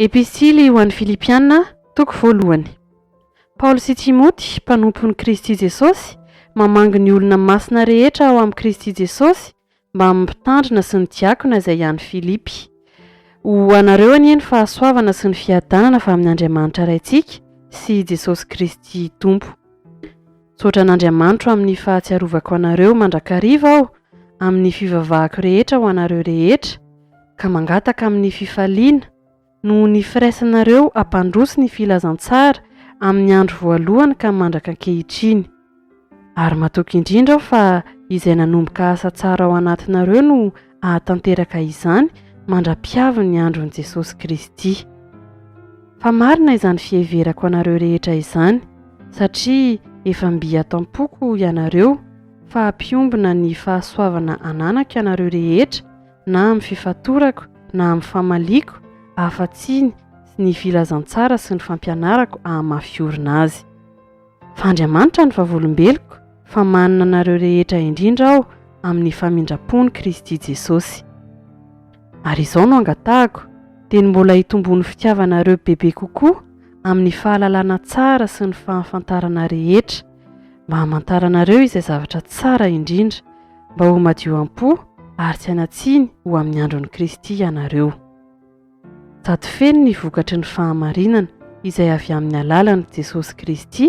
Epistily ho an'ny Filipiana, toko voalohany. Paoly sy Timoty, mpanompon'i Kristy Jesosy, mamangy ny olona masina rehetra ao amin'i Kristy Jesosy Mbamin'ny mpitandrina sy ny diakona izay hiany Filipy. Ho anareo anie ny fahasoavana sy ny fiadanana avy amin' Andriamanitra Raintsika sy i Jesosy Kristy Tompo. Misaotra an' Andriamanitro amin' ny fahatsiarovako anareo mandrakariva aho amin' ny fivavahako rehetra ho anareo rehetra, ka mangataka amin' ny fifaliana, Noho ny firaisanareo hampandroso ny filazantsara amin'ny andro voalohany ka mandraka ankehitriny. Ary matoky indrindra aho fa izay nanomboka asa tsara ao anatinareo no hahatanteraka izany mandra-pihavin'ny andron'i Jesosy Kristy. Fa marina izany fiheverako anareo rehetra izany, satria efa mby ato am-poko ianareo fa mpiombona ny fahasoavana ananako ianareo rehetra, na amin'ny fifatorako na amin'ny famaliako afa-tsy ny filazantsara sy ny fampianarako hahamafy orina azy. Fa Andriamanitra no vavolombeloko, fa manana anareo rehetra indrindra aho amin'ny famindrapon'i Kristy Jesosy. Ary izao no angatahako, dia ny mbola hitomboan'ny fitiavanareo bebe kokoa amin'ny fahalalana tsara sy ny fahafantarana rehetra, mba hamantara anareo izay zavatra tsara indrindra, mba ho madio am-po ary tsy hanatsiny ho amin'ny andron'i Kristy ianareo. Sady feno ny vokatry ny fahamarinana izay avy amin'ny alalan'i Jesosy Kristy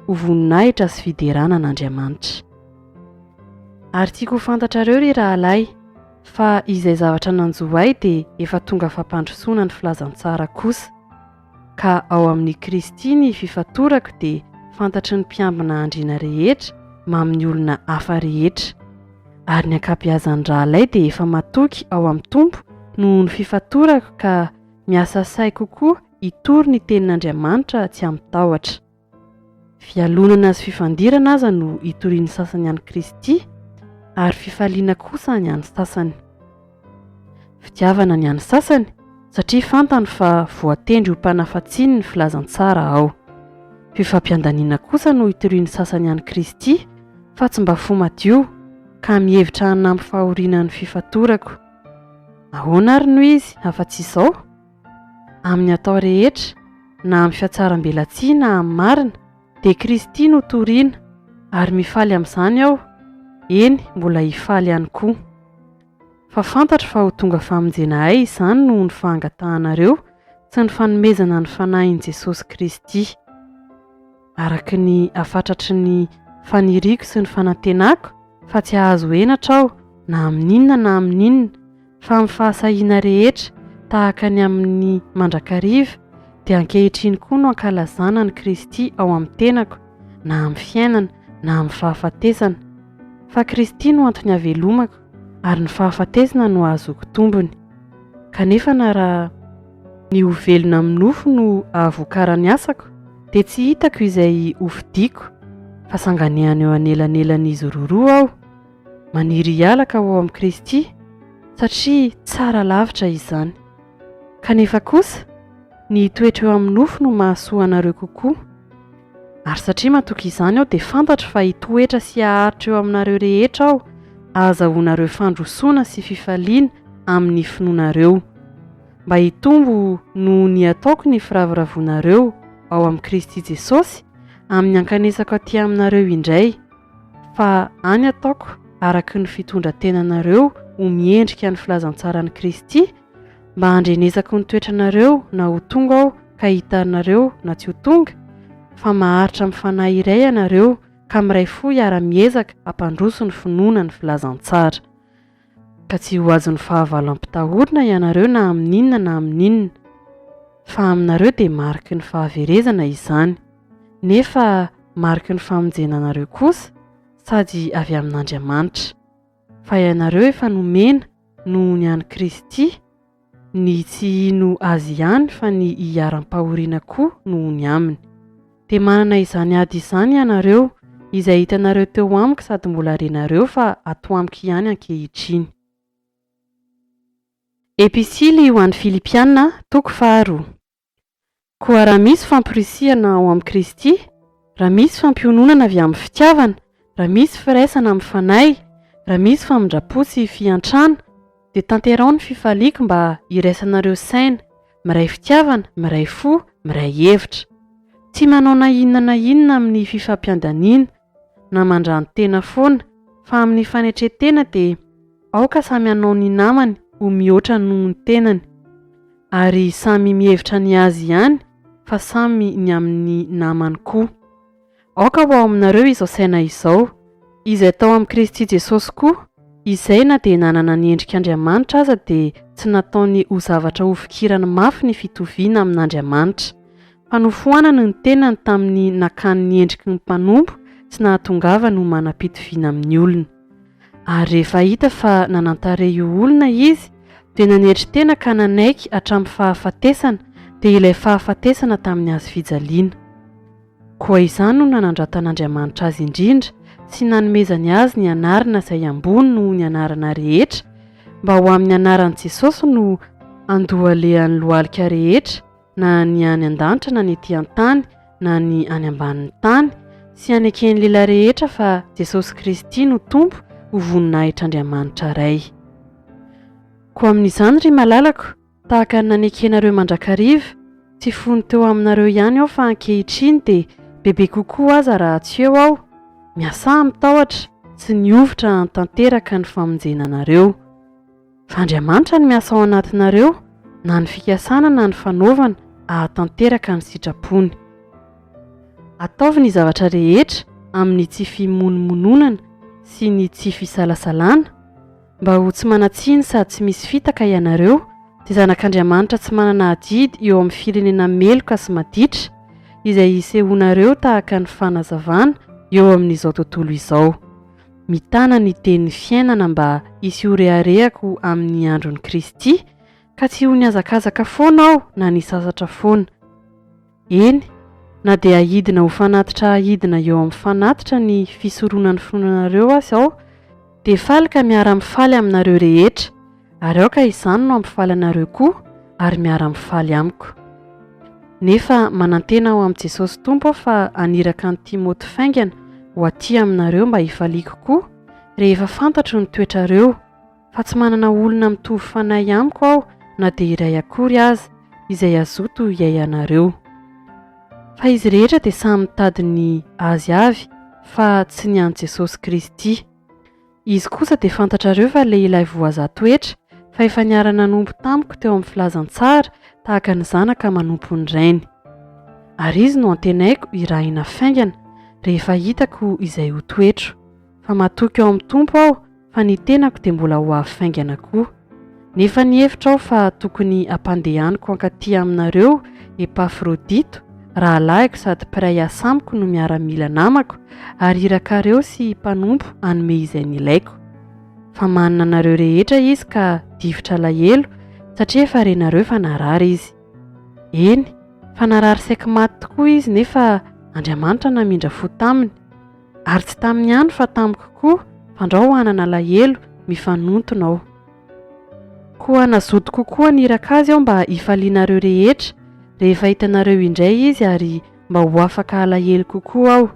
ho voninahitra sy fiderana an'Andriamanitra. Ary tiako ho fantatrareo ry rahalahy fa izay zavatra nanjo ahy dia efa tonga fampandrosoana ny filazantsara kosa. Ka ao amin'i Kristy ny fifantorako dia fantatry ny mpiambina andriana rehetra mamin'ny olona hafa rehetra. Ary ny ankabeazan'ny rahalahy dia efa matoky ao amin'ny Tompo noho ny fifantorako ka miasa sahy kokoa hitory ny tenin'Andriamanitra tsy amin-tahotra. Fialonana sy fifandirana aza no itorian'ny sasany an'i Kristy, ary fifaliana kosa ny an'ny sasany. Fitiavana ny an'ny sasany, satria fantany fa voatendry ho mpanafatsiny ny filazantsara aho. Fifampiandaniana kosa no itorian'ny sasany an'i Kristy, fa tsy mba fo madio, ka mihevitra hanampy fahoriana ny fifatorako. Ahoana àry no izy, afa-tsy izao? Amin'ny atao rehetra, na amin'ny fihatsarambelatsihy na amin'ny marina, dia Kristy no toriana, ary mifaly amin'izany aho, eny, mbola hifaly ihany koa. Fa fantatro fa ho tonga famonjenaay izany noho ny fahangatahanareo sy ny fanomezana ny Fanahin'i Jesosy Kristy. araka ny hafatratry ny faniriako sy ny fanantenako fa tsy hahazo henatra aho na amin'inona na amin'inona, fa amin'ny fahasahiana rehetra tahaka ny amin'ny mandrakariva, dia ankehitriny koa no ankalazana an'i Kristy ao amin'ny tenako, na amin'ny fiainana na amin'ny fahafatesana. Fa Kristy no antony havelomako, ary ny fahafatesana no hahazoako tombony. Kanefa na raha. Ny ho velona amin'ny nofo no ahavokarany asako dia tsy hitako izay ho fidiako fa sanganehana eo anelanelan'izy roroa aho. Maniry hiala ka ho amin'i Kristy satria tsara lavitra izany. Kanefa kosa ny hitoetra eo amin'ny nofo no mahasoa anareo kokoa. Ary satria matoky izany aho dia fantatro fa hitoetra sy haharitra eo aminareo rehetra aho ahazahoanareo fandrosoana sy fifaliana amin'ny finoanareo. mba hitombo noho ny ataoko ny firavoravoanareo ao amin'i Kristy Jesosy amin'ny hankanesako aty aminareo indray, fa any ataoko araka ny fitondran-tenanareo ho miendrika ny filazantsaran'i Kristy, mba handrenesako ny toetranareo na ho tonga aho ka hitanareo na tsy ho tonga, fa maharitra amin'ny fanahy iray ianareo ka miray fo hiara-miezaka hampandroso ny finoana ny filazantsara. ka tsy ho azon'ny fahavalo ampitahorina ianareo na amin'inona na amin'inona, fa aminareo dia mariky ny fahaverezana izany, nefa mariky ny famonjena anareo kosa sady avy amin'Andriamanitra, fa ianareo efa nomena noho ny an'i Kristy, Ny tsy hino Azy ihany fa ny hiharam-pahoriana koa no ho ny aminy. Dia manana izany ady izany ianareo, izay hitanareo teo amiko sady mbola renareo fa ato amiko ihany ankehitriny. Episily ho an'ny Filipiana, toko faharoa. Koa raha misy famporisihana ao amin'i Kristy, raha misy fampiononana avy amin'ny fitiavana, raha misy firaisana amin'ny Fanahy, raha misy famindram-po sy fiantrana, dia tanteraho ny fifaliako mba hiraisanareo saina, miray fitiavana, miray fo, miray hevitra. Tsy manao na inona na inona amin'ny fifampiandaniana, na mandrano-tena foana fa amin'ny fanetren-tena dia aoka samy hanao ny namany ho mihoatra noho ny tenany ary samy mihevitra ny azy ihany fa samy ny amin'ny namany koa. Aoka ho ao aminareo izao saina izao, izay tao amin'i Kristy Jesosy koa, izay na dia nanana ny endrik'Andriamanitra aza dia tsy nataony ho zavatra hofikirany mafy ny fitoviana amin'Andriamanitra, Fanofoanany ny tenany tamin'ny nakany ny endriky ny mpanompo tsy nahatongavany ho manam-pitoviana amin'ny olona. Ary rehefa hita fa nanan-tarehy io olona izy, dia nanetry tena ka nanaiky hatramin'ny fahafatesana, dia ilay fahafatesana tamin'ny hazo fijaliana. Koa izany no nanandratan'Andriamanitra azy indrindra sy nanomezany azy ny anarana izay ambony noho ny anarana rehetra, mba ho amin'ny anaran'i Jesosy no andohalehan'ny lohalika rehetra, na ny any an-danitra na ny ety an-tany na ny any ambanin'ny tany, sy haneken'ny lehilahy rehetra fa Jesosy Kristy no Tompo ho voninahitr'Andriamanitra Ray. Koa amin'izany, ry malalako, tahaka ny nanekenareo mandrakariva, tsy fony teo aminareo ihany aho fa ankehitriny dia bebe kokoa aza raha tsy eo aho, miasaha mitahotra sy ny hovitra hanatanteraka ny famonjena anareo. Fa Andriamanitra no miasa ao anatinareo, na ny fikasana na ny fanaovana, hahatanteraka ny sitrapony. Ataovy ny zavatra rehetra amin'ny tsy fimonomononana sy ny tsy fisalasalana, mba ho tsy manan-tsiny sady tsy misy fitaka ianareo, dia zanak'Andriamanitra tsy manana adidy eo amin'ny firenena meloka sy maditra, izay isehoanareo tahaka ny fanazavana eo amin'izao tontolo izao. mitana ny tenin'ny fiainana mba hisy ho reharehako amin'ny andron'i Kristy, ka tsy ho nihazakazaka foana aho na nisasatra foana. Eny, na dia hidina ho fanatitra hidina eo amin'ny fanatitra ny fisoronan'ny finoanareo aza aho, dia faly ka miara-mifaly aminareo rehetra, ary aoka izany no hampifaly anareo koa ary miara-mifaly amiko. Nefa manantena ao amin'i Jesosy Tompo aho fa haniraka an'i Timoty faingana ho aty aminareo mba hifaliako koa rehefa fantatro ny toetrareo, fa tsy manana olona mitovy fanahy amiko aho na dia iray akory aza, izay hazoto hiaianareo. Fa izy rehetra dia samy mitady ny azy avy fa tsy ny an'i Jesosy Kristy. Izy kosa dia fantatrareo fa lehilahy voazaha toetra, fa efa niara-nanompo tamiko teo amin'ny filazantsara tahaka ny zanaka manompo ny rainy. Ary izy no antenaiko hirahina faingana, rehefa hitako izay ho toetro. Fa matoky ao amin'ny Tompo aho, fa ny tenako dia mbola ho avy faingana koa. Nefa nihevitra aho fa tokony hampandehaniko hankatỳ aminareo Epafrodito, rahalahiko sady mpiray asa amiko no miaramila namako, ary irakareo sy mpanompo hanome izay nilaiko. Fa manana anareo rehetra izy ka difotra alahelo, satria efa renareo fa narary izy. Eny, fa narary saiky maty tokoa izy, nefa Andriamanitra namindra fo taminy. Ary tsy taminy ihany fa tamiko koa fandrao hanana alahelo mifanontona aho. Koa nazoto kokoa niraka azy aho mba hifalianareo rehetra rehefa hitanareo indray izy ary mba ho afaka halahelo kokoa aho.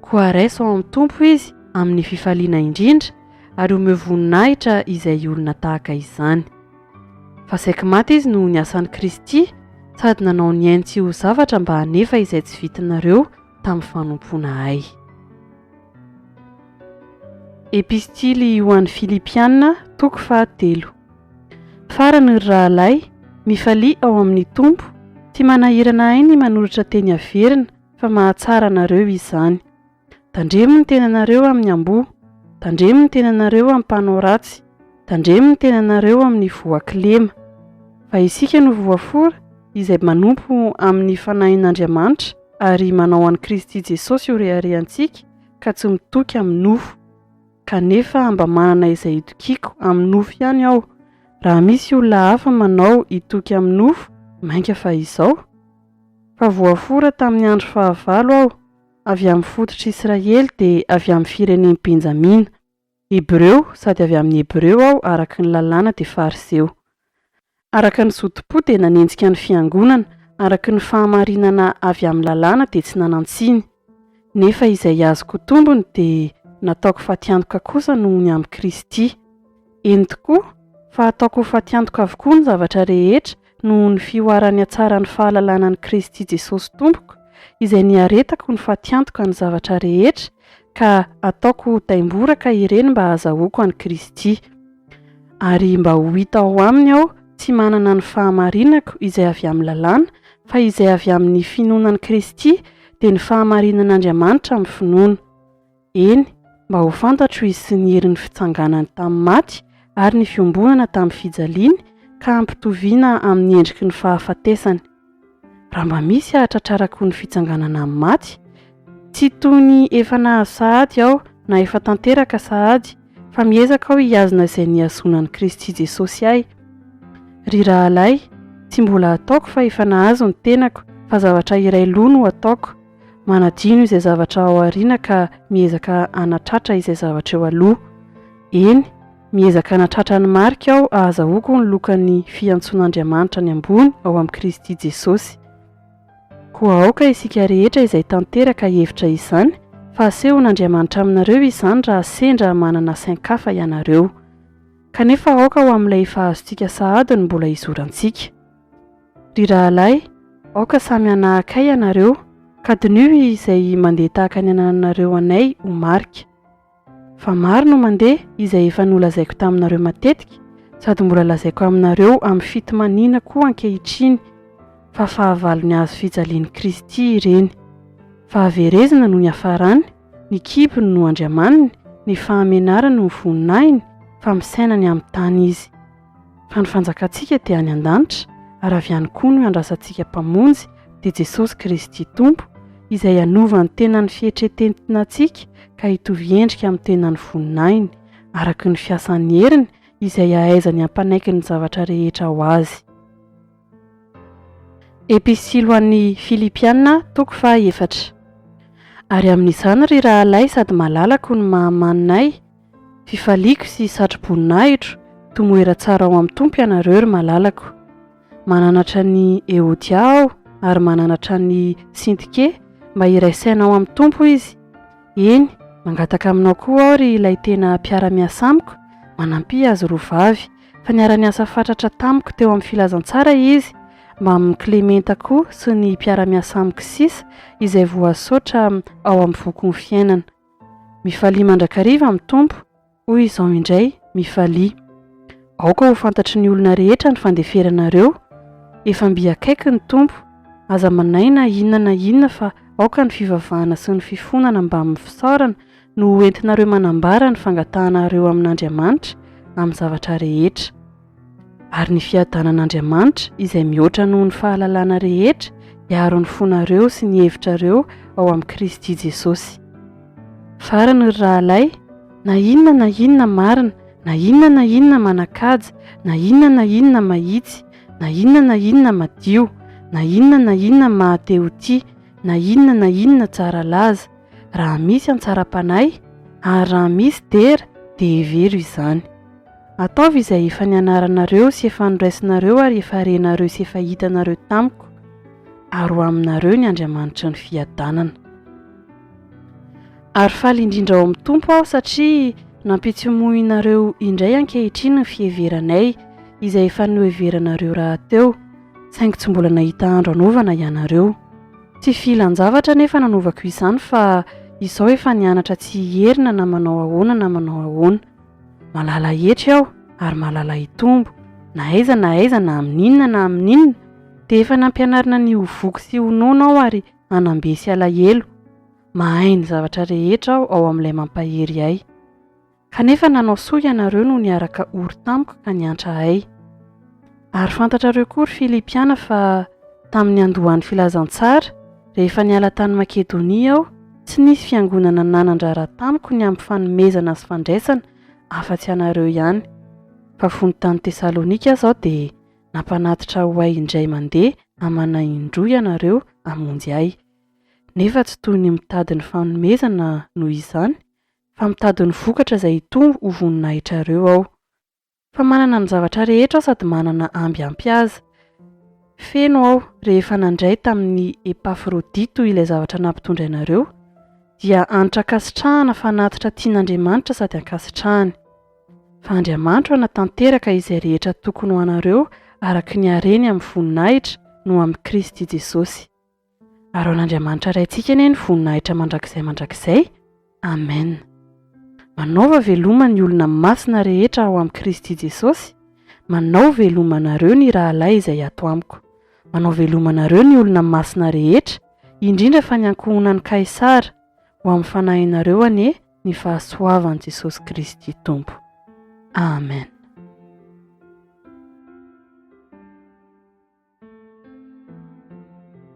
Koa raiso ao amin'ny Tompo izy amin'ny fifaliana indrindra ary omeo voninahitra izay olona tahaka izany. Fa saiky maty izy noho ny asan'i Kristy sady nanao ny ainy tsy ho zavatra mba hanefa izay tsy vitinareo tamin'ny fanompoana Ahy. Epistily ho an'ny Filipiana, toko fahatelo. Farany, ry rahalahy, mifalia ao amin'ny Tompo, tsy manahirana ahy ny manoratra teny averina, fa mahatsara anareo izany. Tandremo ny tenanareo amin'ny amboho, tandremo ny tenanareo amin'ny mpanao ratsy, tandremo ny tenanareo amin'ny voa kilema. Fa isika no voafora, izay manompo amin'ny Fanahin'Andriamanitra, ary manao an'i Kristy Jesosy ho reharehantsika ka tsy mitoky amin'ny nofo. Kanefa mba manana izay hitokiako amin'ny nofo ihany aho. Raha misy olona hafa manao hitoky amin'ny nofo, mainka fa izao. Fa voafora tamin'ny andro fahavalo aho. Avy amin'ny fototr'Israely dia avy amin'ny firenen'i Benjamina. Hebreo, sady avy amin'ny Hebreo aho araka ny Lalàna dia Fariseo. Araka ny zotom-po dia nanenjika ny Fiangonana, araka ny fahamarinana avy amin'ny Lalàna dia tsy nanan-tsiny. Nefa izay azoko tombony dia nataoko fatiantoka kosa noho ny amin'i Kristy. Eny tokoa, fa ataoko ho fatiantoka avokoa ny zavatra rehetra noho ny fihoaran'ny hatsaran'ny fahalalana an'i Kristy Jesosy Tompoko, izay niaretako ny fatiantoka ny zavatra rehetra, ka ataoko ho taimboraka ireny mba hahazahoako an'i Kristy, ary mba ho hita ao Aminy aho tsy manana ny fahamarinako izay avy amin'ny lalàna, fa izay avy amin'ny finoana an'i Kristy dia ny fahamarinan'Andriamanitra amin'ny finoana. Eny, mba ho fantatro izy sy ny herin'ny fitsanganany tamin'ny maty ary ny fiombonana tamin'ny fijaliany ka hampitoviana amin'ny endriky ny fahafatesany. Raha mba misy hahatratrarako ny fitsanganana amin'ny maty, tsy toy ny efa nahazo sahady aho na efa tanteraka sahady, fa miezaka aho hihazona izay nihazonan'i Kristy Jesosy ahy. Ry rahalahy, tsy mbola ataoko fa efa nahazo ny tenako, fa zavatra iray loha no ataoko, Manadino izay zavatra ao aoriana ka miezaka hanatratra izay zavatra eo aloha. Eny, miezaka hanatratra ny marika aho hahazahoako ny lokan'ny fiantsoan'Andriamanitra ny ambony ao amin'i Kristy Jesosy. Koa aoka isika rehetra izay tanteraka hahevitra izany fa hasehon'Andriamanitra aminareo izany raha sendra manana sain-kafa ianareo. Kanefa aoka ho amin'ilay efa azontsika sahady no mbola izorantsika. Ry rahalahy, aoka samy hanahaka ahy ianareo, ka diniho izay mandeha tahaka ny anananareo anay ho marika. Fa maro no mandeha, izay efa nolazaiko taminareo matetika, sady mbola lazaiko aminareo amin'ny fitomaniana koa ankehitriny, fa fahavalon'ny hazo fijalian'i Kristy ireny. Fahaverezana no niafarany, ny kibony no andriamaniny, ny fahamenarany no voninahiny, fa misaina any amin'ny tany izy. Fa ny fanjakantsika dia any an-danitra, ary avy any koa no iandrasantsika Mpamonjy, dia Jesosy Kristy Tompo, Izay hanova ny tenan'ny fihetretentinantsika ka hitovy endrika amin'ny tenan'ny voninahiny, araka ny fiasan'ny heriny izay ahaizany hampanaiky ny zavatra rehetra ho azy. Epistily ho an'ny Filipiana, toko faha efatra. Ary amin'izany, ry rahalahy sady malalako ny maha-maninay, Fifaliako sy satro-boninahitro tomoera tsara ao amin'ny Tompo ianareo ry malalako. Mananatra an'i Eodia aho ary mananatra an'i Syntyke mba hiray saina ao amin'ny Tompo izy. Eny, mangataka aminao koa aho ry ilay tena mpiara-miasa amiko, manampia azy roa vavy, fa niara-niasa fatratra tamiko teo amin'ny filazantsara izy, mbamin'i Klementa koa sy ny mpiara-miasa amiko sisa izay voasaotra ao amin'ny Vokon'ny Fiainana. Mifalia mandrakariva amin'ny Tompo, hoy izao indray, Mifalia. Aoka ho fantatry ny olona rehetra ny fandeferanareo, efa mby akaiky ny Tompo, aza manahy na inona na inona fa aoka ny fivavahana sy ny fifonana mbamin'ny fisaorana no ho entinareo manambara ny fangatahanareo amin'Andriamanitra amin'ny zavatra rehetra. Ary ny fiadanan'Andriamanitra, izay mihoatra noho ny fahalalana rehetra, hiaro ny fonareo sy ny hevitrareo ao amin'i Kristy Jesosy. Farany, ry rahalahy, na inona na inona marina, na inona na inona manan-kaja, na inona na inona mahitsy, na inona na inona madio, na inona na inona maha-te ho tia, na inona na inona tsara laza, raha misy an-tsara-panahy, ary raha misy dera, dia hevero izany. Ataovy izay efa nianaranareo sy efa noraisinareo ary efa renareo sy efa hitanareo tamiko, ary ho aminareo ny Andriamanitry ny fiadanana. Ary faly indrindra ao amin'ny Tompo aho satria nampitsimohinareo indray ankehitriny ny fiheveranay izay efa noheveranareo rahateo, saingy tsy mbola nahita andro anovana ianareo. Tsy fihilan-javatra anefa nanovako izany fa izao efa nianatra tsy hierina na manao ahoana na manao ahoana. Malala hetry aho ary malala hitombo, na aiza na aiza na amin'inona na amin'inona, dia efa nampianarina ny ho voky sy ho nono aho ary hanam-be sy halahelo. Mahay ny zavatra rehetra aho ao amin'ilay mampahery ahy. Kanefa nanao soa ianareo no niaraka ory tamiko ka niantra ahy. Ary fantatrareo koa, ry Filipiana, fa tamin'ny niandohan'ny filazantsara, rehefa niala tany Makedonia aho, tsy nisy fiangonana nanan-draharaha tamiko ny amin'ny fanomezana sy fandraisana afa-tsy anareo ihany. Fa fony tany Tesalonika aza aho dia nampanatitra ho ahy indray mandeha amanà indroa ianareo hamonjy ahy. Nefa tsy toy ny mitady ny fanomezana noho izany, fa mitady ny vokatra izay hitombo ho voninahitrareo aho. Fa manana ny zavatra rehetra aho sady manana amby ampy aza. Feno aho rehefa nandray tamin'i Epafrodito ilay zavatra nampitondrainareo, dia hanitra ankasitrahana fanatitra tian'Andriamanitra sady ankasitrahany. Fa Andriamanitro hanatanteraka izay rehetra tokony ho anareo araka ny hareny amin'ny voninahitra no amin'i Kristy Jesosy. Ary ao an'Andriamanitra Raintsika anie ny voninahitra mandrakizay mandrakizay. Amen. Manaova veloma ny olona masina rehetra ao amin'i Kristy Jesosy, manao veloma anareo ny rahalahy izay ato amiko. Manao veloma anareo ny olona masina rehetra, indrindra fa ny ankohonan'i Kaisara, ho amin'ny fanahinareo anie ny fahasoavan'i Jesosy Kristy Tompo. Amen.